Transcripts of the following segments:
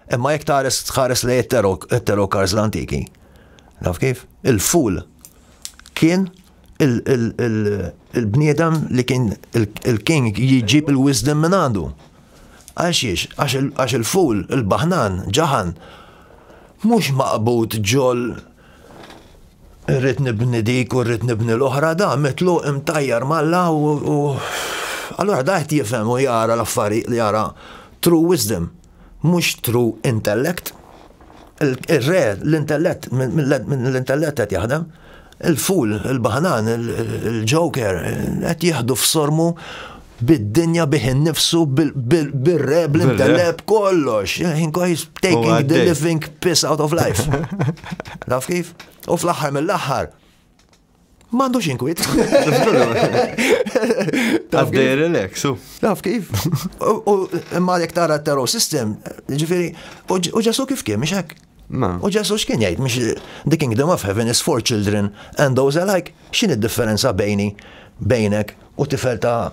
Imma jekk tares tħares lej it-tarot cards l-antiki. Naf kif? Il-ful kien il-bniedem li kien il-king jġib il-wisdom minn għandu. Għaxiex, għax il-ful, il-bahnan, ġahan, mux maqbut ġol rrit nibni dik u rrit nibni l-oħra da, mitlu imtajjar malla u. Allora da jtifem u jara l-affari li jara true wisdom. mhux true intellect, il-re, l-intellett, minn l-intellett qed jaħdem, il-ful, il-baħnan, il-ġoker, qed jieħdu f'sormu bid-dinja bih innifsu bil-re, bl-intellett, kollox. He's taking the living piss out of life. Naf kif? U fl-aħħar mill-aħħar, M'għandux inkwiet. Taf dej relax, u. Taf kif? U imma jek tara t-terror system, ġifiri, u ġesu kif kien, miex hekk? U ġesu x'kien jgħid, miex the kingdom of heaven is for children and those alike, x'in id-differenza bejni, bejnek u tifel ta'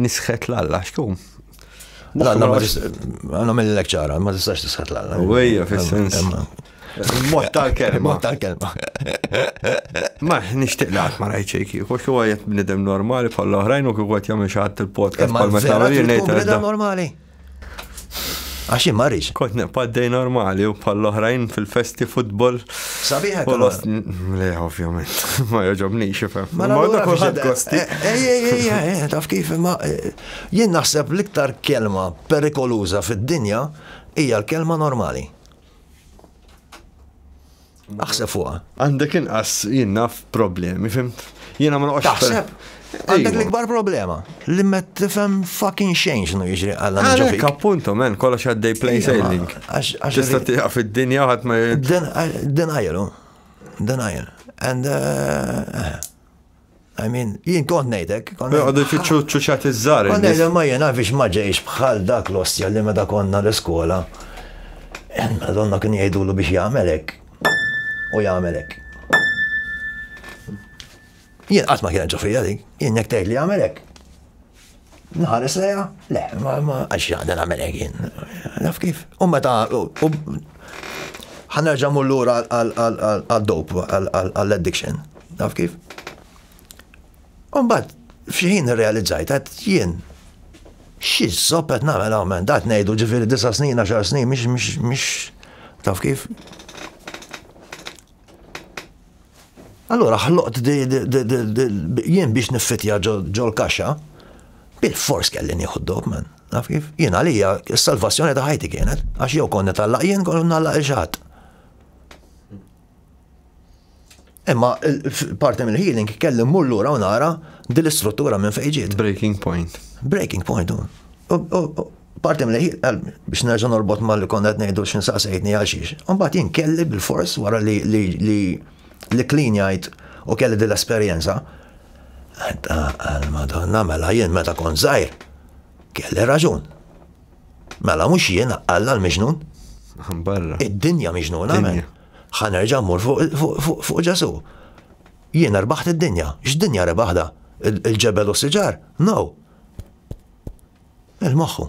Nisħet l-alla, xtu? L-alla ma għanna mill-lek ċara, ma tistax tisħet l-alla. Uwejja, fil-sens. Mot tal-kelma. Mot tal-kelma. Ma, nishtiq li għat ma rajċej kieku, xo għajet bnidem normali bħal oħrajn u kieku għat jamil xaħat il-podcast bħal ma xaħat il-bnidem normali. Għax jien marriċ. Kont neqpaddej normali u bħal oħrajn fil-festi futbol. Sabiħa u lost. Le, ovvjament. Ma joġobni xifem. Ma għadda kullħat kosti. Ej, ej, ej, ej, taf kif ma. Eh, jien naħseb l-iktar kelma perikoluza fid-dinja hija l-kelma normali. Aħseb fuqha. Għandek inqas jien naf problemi, fimt? Jiena ma noqgħodx. Taħseb? Għandek l-ikbar problema li ma tifhem fucking xejn x'nu jiġri għalla nġu fik. Appuntu men, kollox għaddej plain sailing. Tista' tiqa' fid-dinja ħadd ma Denial, denial. And uh, I mean, jien kont nejdek. Għadu jfittxu ċuċat iż-żar. Kont nejdek ma jena biex ma ġejx bħal dak l-ostja li meta konna l-iskola. Donna kien jgħidulu biex jagħmelek. U jagħmelek. Jien qatt ma kien ġofija dik, jien jekk tgħid li jagħmelek. Nħares leja, le, ma ma għax għadha nagħmel jien. Naf kif. U meta ħanerġa' mur lura għal-dop, għall-addiction. Naf kif. Umbat, fxieħin realizzajt, għat jien, xiex zoppet namel għamen, dat nejdu ġifiri disa snin, għaxar snin, miex, miex, miex, taf kif? Allura ħloqt jien biex niffitja ġol kaxxa bil-fors kelli nieħu d-dob man. Naf kif? Jien għalija s-salvazzjoni ta' ħajti kienet, għax jew konni tallaq jien kollu nallaq il-ġat. Imma parti mill-healing kelli mmur lura u nara dil-istruttura minn fejġiet. Breaking point. Breaking point. Parti mlejħ qalbi biex nerġa' norbot ma' li konna qed ngħidu x'in saqsejtni għal xiex. Imbagħad jien kelli bilfors wara li li li li klinjajt u kelli din l-esperjenza. Għal Madonna mela jien meta kont żgħir kelli raġun. Mela mhux jien Alla l-miġnun. Barra. Id-dinja miġnuna minn. Ħanerġa' mmur fuq Ġesu. Jien erbaħt id-dinja. X'dinja rebaħda? Il-ġebel u s-siġar? No. Il-moħħu.